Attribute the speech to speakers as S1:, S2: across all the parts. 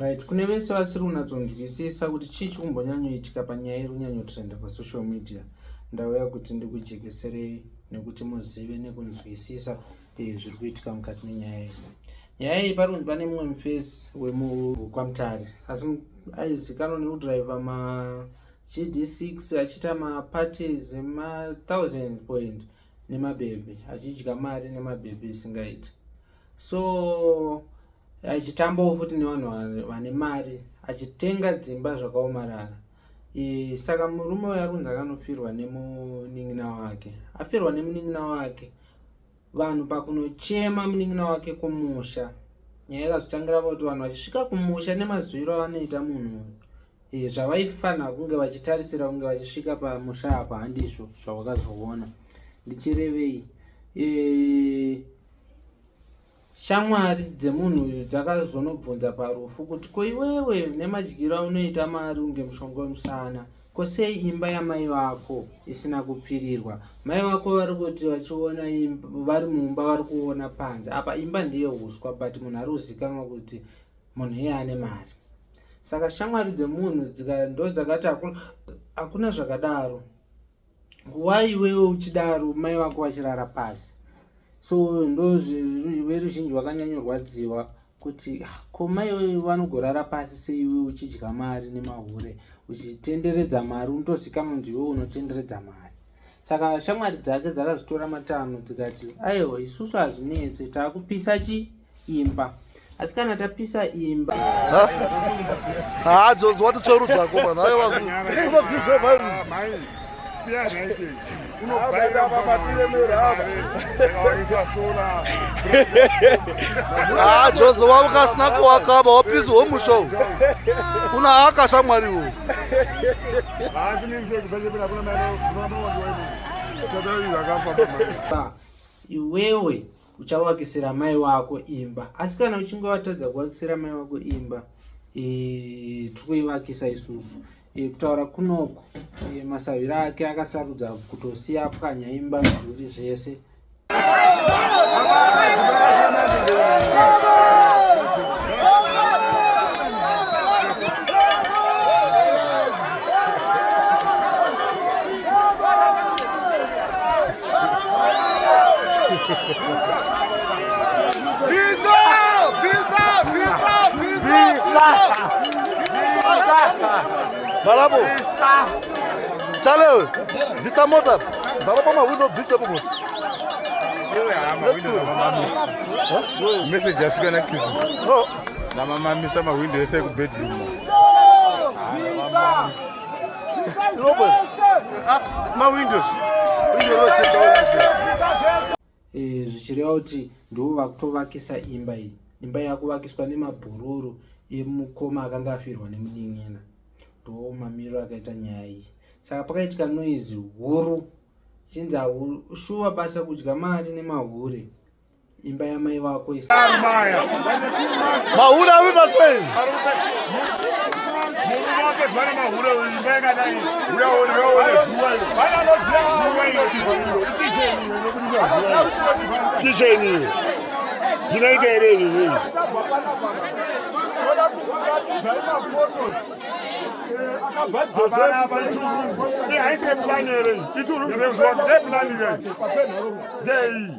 S1: right kune vese vasiri kunatsonzwisisa kuti chii chikumbonyanyoitika panyaya iri kunyanyotrenda pasocial media ndauya kuti ndikujekeserei nekuti muzive nekunzwisisa eh, zviri kuitika mukati menyaya iyi nyaya iyi pari kunzi pane mumwe mufesi wemukwamutare asi aizikanwa nekudriver ma GD6 achiita maparties ema1000 point nemabhebhi achidya mari nemabhebhi isingaiti so achitambawo futi nevanhu vane mari achitenga dzimba zvakaomarara e, saka murume uyo akunzi akanofirwa nemunin'ina wake afirwa nemunin'ina wake vanhu pakunochema munin'ina wake kumusha nyaya ikazotangira pakuti vanhu vachisvika kumusha nemazwiro avanoita munhu uyu eh, zvavaifanira kunge vachitarisira kunge vachisvika pamusha apa handizvo zvavakazoona ndichirevei eh, shamwari dzemunhu uyu dzakazonobvunza parufu kuti ko iwewe nemadyiro aunoita mari unge mushonga wemusana Ko sei imba yamai vako isina kupfirirwa? Mai vako vari kuti vachiona vari mumba vari kuona panze. Apa imba ndiye huswa but munhu ari kuzikanwa kuti munhu iye ane mari. Saka shamwari dzemunhu ndo dzakati hakuna zvakadaro. Why iwewe uchidaro mai vako vachirara pasi? So ndo veruzhinji vakanyanyorwadziwa kuti ah, ko mai vanogorara pasi seiwe uchidya mari nemahure uchitenderedza mari unotozikanwa kuti iwe unotenderedza mari saka shamwari dzake dzakazvitora matano dzikati aiwa isusu hazvinetse takupisa chi imba asi kana tapisa imba
S2: hadzozwa titsverudzako vanhu aiwa Ah, Jose wavo kasina kuwakaba wapisi womusha uwu kuna haka shamwari uwu
S1: iwewe uchavakisira mai wako imba asi kana uchinge watadza kuvakisira mai wako imba eh, tikuivakisa isusu E, kutaura kunoku e, masavira ake akasarudza kutosiya pwanya imba mudhuri zvese
S2: Balabu. Chale, visa mota. Balabu ma window visa bubu. Yewe ama window na mama
S3: misa. Message yafika na kiss. Oh. Na mama misa ma window yese ku bedroom. Visa.
S1: Eh, zvichireva kuti ndivo vakutovakisa imba iyi imba yakuvakiswa nemabhururu emukoma akanga afirwa nemunin'ina ndo mamiriro akaita nyaya iyi saka pakaitika noizi huru chinzi shuwa basa kudya mari nemahure imba yamai vako mahura
S2: arikuita
S3: sei kicheni iyo zvinoita here izvi zvinhu haiseplanere ituruzeuziwa ndeplanire ndeiyi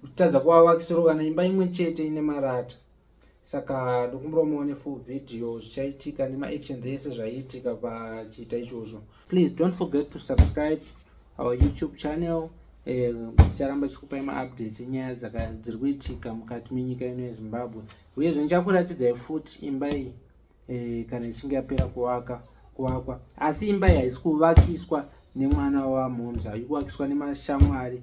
S1: kutadza kuwavakisirwa kana imba imwe chete ine marata saka ndokumbirawo muone full video zvichaitika nemaactions ese zvaiitika pachiita ichozvo please don't forget to subscribe our youtube channel eh, ticharamba tichikupai maupdates enyaya dziri kuitika mukati menyika ino yezimbabwe uyezve ndichakuratidzai futi imba iyi eh, kana ichinge yapera kuvaka kuvakwa asi imba iyi haisi kuvakiswa nemwana wamomza ikuvakiswa nemashamwari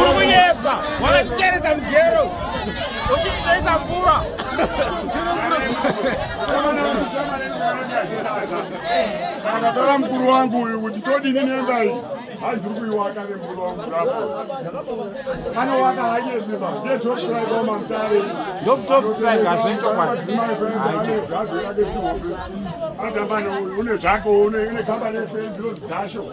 S4: uri kunyepa wakaticheresa mugero uchititaisa
S2: mvura kana tara mukuru wangu uyu kuti todini nendai hai ndiri kuiwaka nemukuru wangu rapo anowaka hanyezima ndetopsraikomamtare
S4: ndoptopsraikazvechokwadi
S2: adambane une zvako une kambani yefenziro zidasho